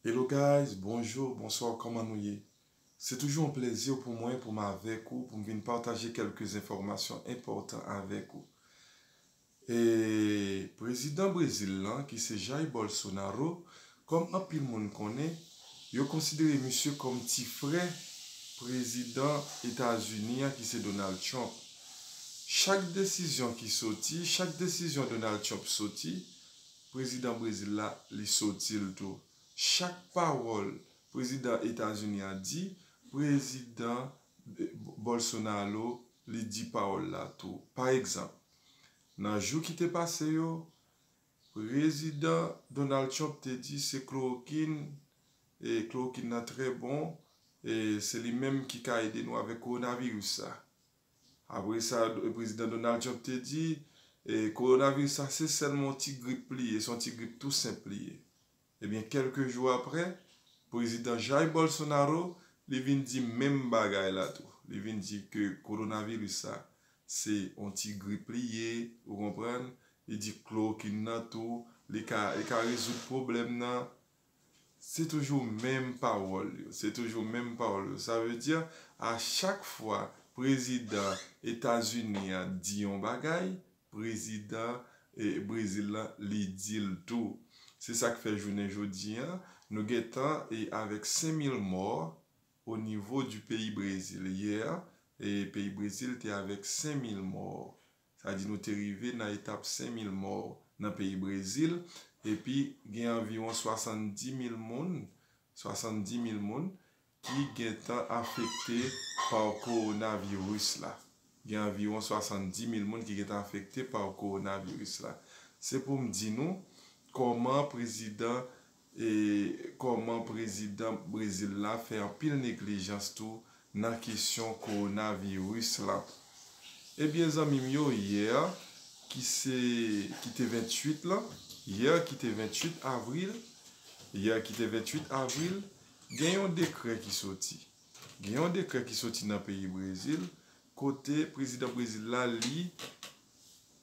Hello guys bonjour bonsoir kòman nou ye se toujou yon plèzir pou mwen pou m avèk ou pou m vin pataje kèlke enfòmasyon enpòtan avèk ou e prezidan brezil lan ki se Jair Bolsonaro kòm anpil moun konnen yo konsidere misye kòm ti frè prezidan etazini an ki se Donald Trump chak desizyon ki soti chak desizyon Donald Trump soti Prezidan Brezil la, li soti l tou. Chak pawòl prezidan Etazini a di, prezidan Bolsonaro li di pawòl la tou. Pa egzanp, nan jou ki te pase yo, prezidan Donald Trump te di se klorokin, e klorokin nan trè bon, e se li menm ki ka ede nou avèk kowonaviris sa. Apre sa, Prezidan Donald Trump te di, Kowonaviris la se sèlman yon ti grip li ye, se yon ti grip tou senp li ye. Ebyen, kèlke jou apre, Prezidan Jair Bolsonaro, li vin di menm bagay la tou. Li vin di ke kowonaviris la se yon ti grip li ye, ou konprann, li di klorokin nan tou, li ka rezoud pwoblèm nan. Se toujou menm pawòl yo, se toujou menm pawòl yo. Sa vle di a chak fwa prezidan Etazini an di yon bagay, prezidan Brezil lan li di l tou. Se sa k fè jounen jodi an, nou gen tan e avèk 5000 mò o nivo di peyi Brezil. Yè, peyi Brezil te avèk 5000 mò. Sa di nou te rive nan etap 5 mil mò nan peyi Brezil epi gen anviwon 70 mil moun, 70 mil moun, ki gentan afekte pa kowonaviris la. Gen anviwon 70 mil moun ki gentan afekte pa kowonaviris la. Se pou m di nou kòman prezidan E kòman prezidan Brezil la fè anpil neglijans tou nan kesyon kowonaviris la. Ebyen zanmi m yo yè ki se ki te 28 lan, yè ki te 28 avril, yè ki te 28 avril, gen yon dekrè ki soti. Gen yon dekrè ki soti nan peyi Brezil kote prezidan Brezil la li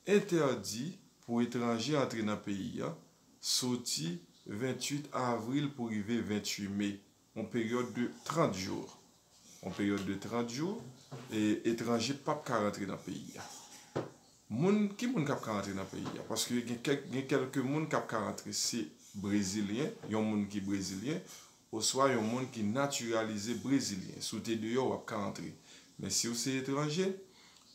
entèdi pou etranje antre nan peyi an. soti 28 avril pou rive 28 me, yon peryòd de 30 jou, yon peryòd de 30 jou, etranje pap ka rantre nan peyi a. Moun, ki moun kap ka rantre nan peyi a? Paske gen kèk, gen kèlke moun kap ka rantre se brezilyen, yon moun ki brezilyen, oswa yon moun ki natiralize brezilyen, si w te deyò w ap ka antre, men si w se etranje,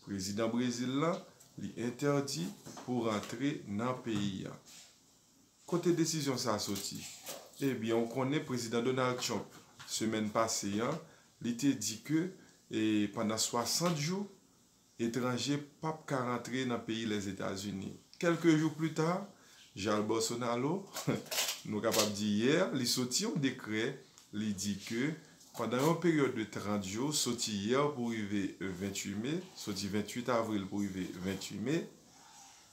prezidan Brezil lan li entèdi pou rantre nan peyi a. Kote desizyon sa soti? Ebyen ou konnen prezidan Donald Trump semèn pase an li te di ke pandan 60 jou, etranje pap ka rantre nan peyi Lèzetazini. Kèlke jou plita, Jair Bolsonaro, nou kapab di yè, li soti yon dekrè, li di ke pandan yon peryòd de 30 jou, soti yè pou rive 28 me, soti 28 avril pou rive 28 me,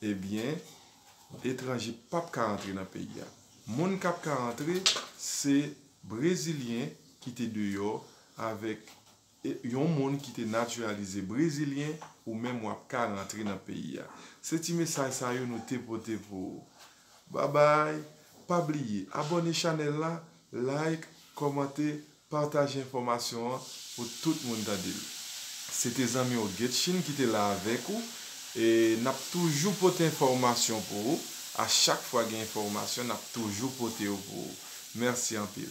ebyen, etranje pap ka rantre nan peyi a. Moun kap ka rantre, se brezilyen ki te deyò avèk E yon moun ki te natiralize brezilyen ou menm wap ka rantre nan peyi a. Se ti mesaj sa yo nou te pote pou ou. Babay, pa bliye abòne chanèl la, like, kòmante, pataje enfòmasyon an pou tout moun tande l. Se te zanmi w Guetschine ki te la avèk ou e nap toujou pote enfòmasyon pou ou, a chak fwa gen enfòmasyon nap toujou pote yo pou ou. Mèsi anpil.